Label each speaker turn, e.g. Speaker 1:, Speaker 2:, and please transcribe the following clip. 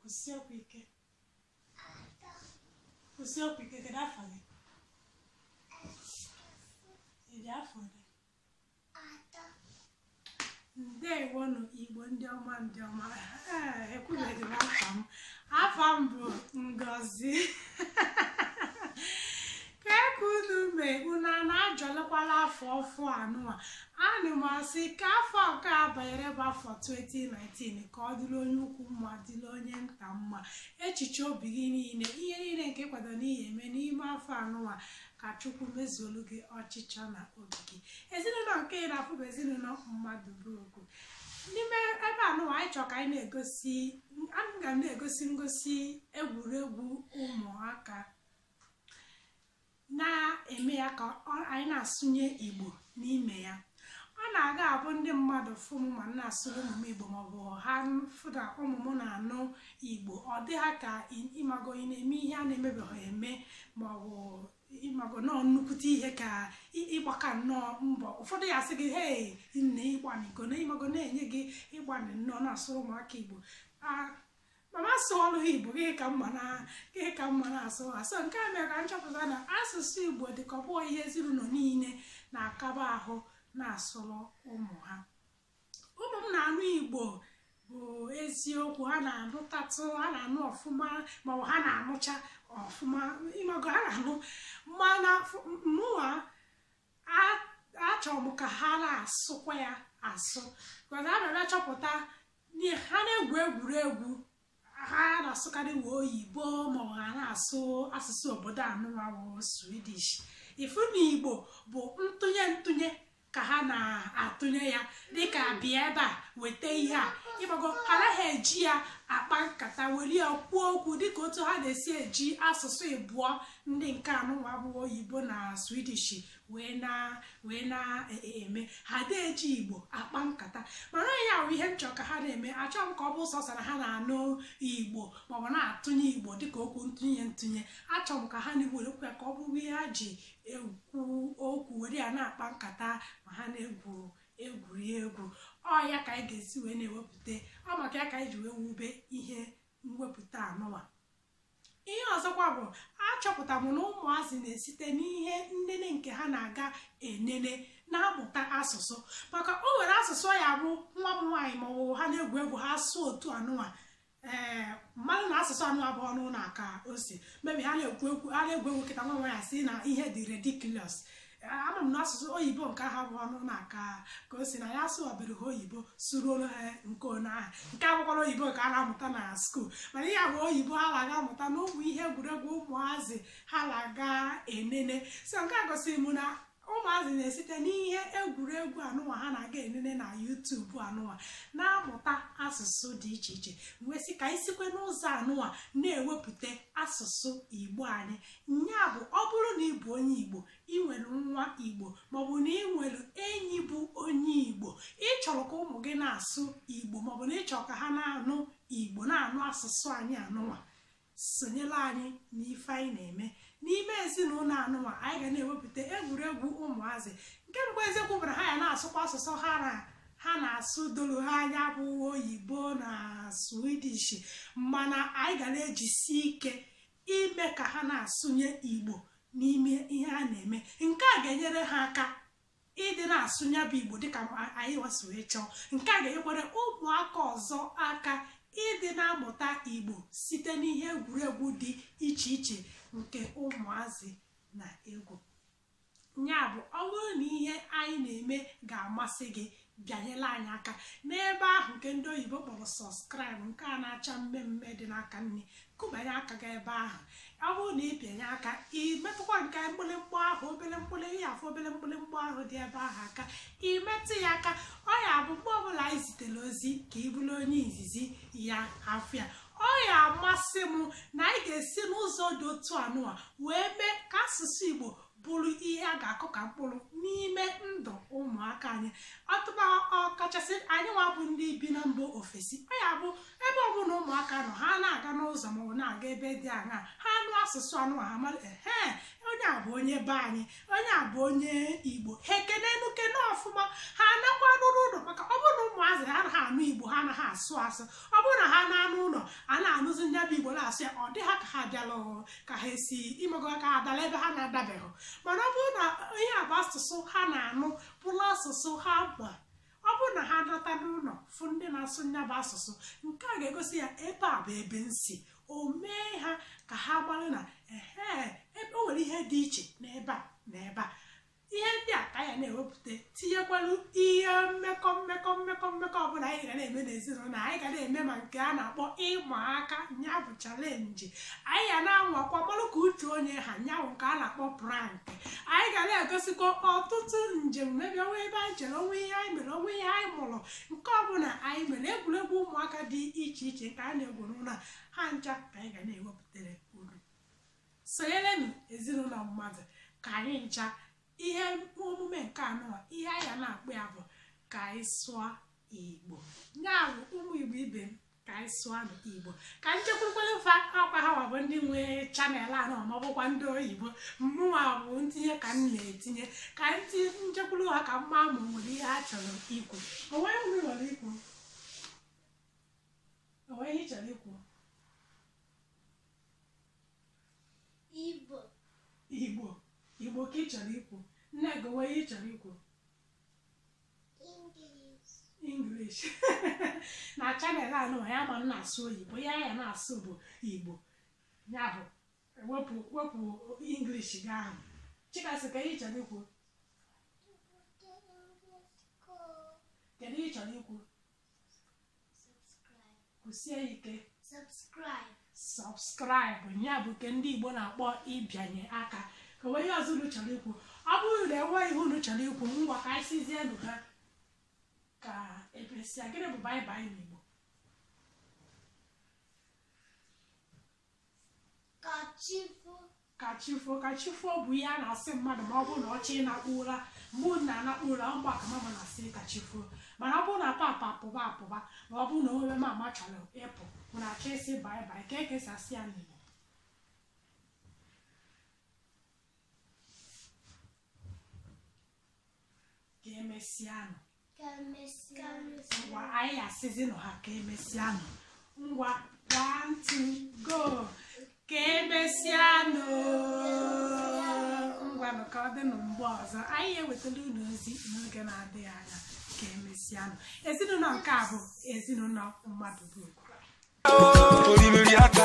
Speaker 1: kwusie okwu ike kwusie okwu ike kedu afọ gị ị dị afọ ole ndewonụ igbo ndị ọma ndị ọma Ee, ekwubeghị m afa m afa m bụ ngozi ajọlụkwala afọ ọfụ anụwa ana m asị ka afọ nke a banyere bụ afọ 2019 ka ọ dịrị onye ukwu mma dịrị onye nta mma echiche obi gị niile ihe niile nke ị kwado na ị ya-eme n'ime afọ anụwa ka chukwu mezuolu gị ọchịchọ na obi gị ezinụlọ nke ị na-afụ bụ ezinụlọ mmadụ bụ okwu n'ime ebe anụwa anyị chọrọ ka anyị na-egosi aga m na-egosi ngosi egwuregwu ụmụaka na-eme ya ka anyị na-asụnye igbo n'ime ya ọ na-aga abụ ndị mmadụ fụ m ma m na-asụrụ ụmụ m igbo maọbụ ha fụ na ụmụ m na-anụ igbo ọ dị ha ka ịmago ị na-eme ihe a na-emebeghị eme maọbụ ịmago nọọ nnukwute ihe ka ị gbaka nnọọ mbọ ụfọdụ ya-asị gị hei nne ị gbanịgo na ịmago na-enye gị ị gbanị nnọọ na-asụrụ ụmụaka igbo mana asụ ọnụ igbo gị ka mma na gị ka mma na-asụ asụ nke a mere ka m chọpụta na asụsụ igbo dị ka ọ bụrọ ihe ezinụlọ niile na-akaba ahụ na-asụrụ ụmụ ha ụmụ m na-anụ igbo bụ eziokwu ha na-anụtatụ ha na-anụ ọfụma maọbụ ha na-anụcha ọfụma ịmago ha na-anụ mana mụwa achọrọ m ka ha na-asụkwa ya asụ mana a na-achọpụta na ha na-egwu egwuregwu ha na-asụkarịwa oyibo maọbụ ha na-asụ asụsụ obodo anụwa wụ Swedish ị fụ na igbo bụ ntụnye ntụnye ka ha na-atụnye ya dịka bịa ebe a weta ihe a ịmago ha anaghị eji ya akpa nkata were ya kwuo okwu dịka otu ha na-esi eji asụsụ ịbụọ ndị nke anụnwa bụ oyibo na Swedish wee na wee na-eme ha adị eji igbo akpa nkata mana ya bụ ihe m chọrọ ka ha na-eme achọghị m ka ọ bụ sọsọ na ha na-anụ igbo maọbụ na-atụnye igbo dịka okwu ntụnye ntụnye achọrọ m ka ha na-ewerekwu ya ka ọ bụrụ ihe ha ji ekwu okwu were ya na-akpa nkata ma ha na-egwu egwuregwu ọ ya ka anyị ga-esi wee na-ewepụta ọ maka ya ka anyị ji wee wube ihe mwepụta anụwa ihe ọzọkwa bụ achọpụta m na ụmụazị na-esite n'ihe nnene nke ha na-aga enene na-amụta asụsụ maka o nwere asụsụ ya bụ nwa m nwaanyị ma ọ wụrụ ha na-egwu egwu ha sụọ otu anụnwa ee eh, m malụ na asụsụ anụnwa abụrọ n'ụnọ a ka o si mabe ha na-egwu egwu ha na-egwu egwu kịta nwa m nwaanyị sị na ihe dị ridiculous ama m na asụsụ oyibo nke ha bụ ọnụ na-aka ka o si na ya asụ ọbịrị ha oyibo suruolu ha nke onye ahụ nke akwụkwọ oyibo ka a na-amụta na school mana ihe bụ oyibo ha na-aga amụta na ụmụ ihe egwuregwu ụmụazị ha na-aga enene so nke a gosiri m na ụmụazị na-esite n'ihe egwuregwu anụnwa ha na-aga enene na YouTube anụnwa na-amụta asụsụ dị iche iche wee sị ka anyị sikwe n'ụzọ anụnwa na-ewepụta asụsụ igbo anyị Nya bụ ọ bụrụ na ị bụ onye Igbo, ị nwere nwa Igbo maọbụ na ị nwere enyi bụ onye Igbo, ị chọrọ ka ụmụ gị na-asụ Igbo maọbụ na ị chọrọ ka ha na-anụ Igbo na-anụ asụsụ anyị anụnwa sonyela anyị n'ife anyị na-eme n'ime ezinụlọ anụnwa anyị ga na-ewepụta egwuregwu ụmụazị nke mbụ eziokwu bụ na ha ya na-asụkwa asụsụ ha na-asụ doro ha anya bụ oyibo na Swedish mana anyị ga na-ejisi ike ime ka ha na-asụnye Igbo n'ime ihe a na-eme nke a ga-enyere ha aka ịdị na-asụ nya bụ igbo dịka anyị nwa si wee chọọ nke a ga-enyekwara ụmụaka ọzọ aka ịdị na-amụta igbo site n'ihe egwuregwu dị iche iche nke ụmụazị na-egwu ya bụ ọ bụrụ na ihe anyị na-eme ga-amasị gị bịanyela anyị aka n'ebe ahụ nke ndị oyibo kpọrọ subscribe nke a na-acha mmee mmee dị n'aka nni kụbanye aka gị ebe ahụ ọ bụrụ na ị bịanye aka ị metụkwa nke mgbịlịmgba ahụ obele mgbịlị ihe afụ obele mgbịlịmgba ahụ dị ebe ahụ aka ị metụ ya aka ọ ya bụ mgbe ọbụla anyị zitere ozi ka ị bụrụ onye izizi ya afụ ya ọ ya amasị m na anyị ga-esi n'ụzọ dị otu anụwa wee mee ka asụsụ Igbo bụrụ ihe a ga-akụ ka mkpụrụ n'ime ndụ ụmụaka anyị ọtụba ọkachasị anyị nwa bụ ndị bi na mba ofesi ọ ya bụ ebe ọbụla ụmụaka nọ ha na-aga n'ụzọ maọbụ na-aga ebe dị aṅaa ha anụ asụsụ anụnwa ha mara ehe onye a bụ onye be anyị onye a bụ onye igbo ha ekene nu ekene ọfụma ha anakwanụ n'ụlọ maka ọ bụrụ na ụmụazị ha anaghị anụ igbo ha anaghị asụ asụ ọ bụrụ na ha naa n'ụlọ ha na-anụzi ndị bụ igbo na-asụ ya ọ dị ha ka ha bịala ọhụrụ ka ha esi imego ka ha dala ebe ha na-adabeghị mana ọ bụrụ na ihe a bụ asụsụ ha na-anụ bụrụ asụsụ ha ma ọ bụrụ na ha nata n'ụlọ fụ ndị na-asụ nya bụ asụsụ nke a ga-egosi ya ebe a bụ ebe m si o mee ha ka ha mara na ehe ebe o nwere ihe dị iche n'ebe a na ebe a ihe ndị a ka ya na-ewepụta tinyekwalu ihe mmekọ mmekọ mmekọ mmekọ ọbụla anyị ga na-eme n'ezinụlọ anyị ga na-eme ma nke a na-akpọ ịma aka nya bụ challenge anyị ga na-anwakwa malụ ka uche onye ha ya bụ nke a na-akpọ prank anyị ga na-egosikwa ọtụtụ njem maybe o nwe ebe anyị jere o nwe ihe anyị mere o nwe ihe anyị mụrụ nke ọbụla anyị mere egwuregwu ụmụaka dị iche iche nke a na-egwu n'ụlọ ha ncha ka anyị ga na-ewepụtara unu sonyerenụ ezinụlọ mmadụ ka anyị ncha ihe omume nke anọ ihe anyị ga na-akpọ ya bụ ka anyị sụọ igbo ya bụ ụmụ igbo ibe m ka anyị sụọ igbo ka anyị chekwurukwa fa ọkwa hanwa bụ ndị nwe chanel a na ma ọ bụkwa ndị oyibo mụnwa bụ ntinye ka m na-etinye ka anyị chekwuru ha ka m ma ma o nwere ihe ha chọrọ ikwu o nwe ihe i nwere ikwu o nwe ihe ị chọrọ ikwu igbo igbo igbo kee ihe ị chọrọ ikwu nne gị o nwe ihe ị chọrọ ikwu English na chanel anụwa anyị ama na-asụ oyibo ihe a ya na-asụ bụ igbo ya bụ wepụ wepụ English gị ahụ Chikasị kee ihe ị chọrọ ikwu kedu ihe ị chọrọ ikwu kwụsie ike subscribe ya bụ nke ndị Igbo na-akpọ ịbịanye aka ka o nwe ihe ọzọ unu chọrọ ikwu ọ bụrụ na enweghị ihe unu chọrọ ikwu ngwa ka anyị sịzienụ ha ka emesịa gịnị bụ bye bye n'Igbo ka chi ka chi fo ka chi fo bụ ihe a na-asị mmadụ ma ọ bụrụ na ọ chọ ịnakpu ụra mgbe unu na-anakpu ụra mgbe ahụ ka mama na-asị ka chi fo mana ọ bụrụ na papa apụba apụba ma ọ bụrụ na o nwe mama chọrọ ịpụ bụ na a chọ ịsị bye bye kee ka e si asị ya n'igbo ka emesịanụ ka emesịanụ ngwa anyị asịzinụ ha ka emesịanụ ngwa one two go ka emesịanụ ngwanụ ka ọ dịnụ mgbe ọzọ anyị ewetala unu ozi n'oge na-adịghị anya ka emesịanụ ezinụlọ nke a bụ ezinụlọ mmadụ bụ Olimiri aka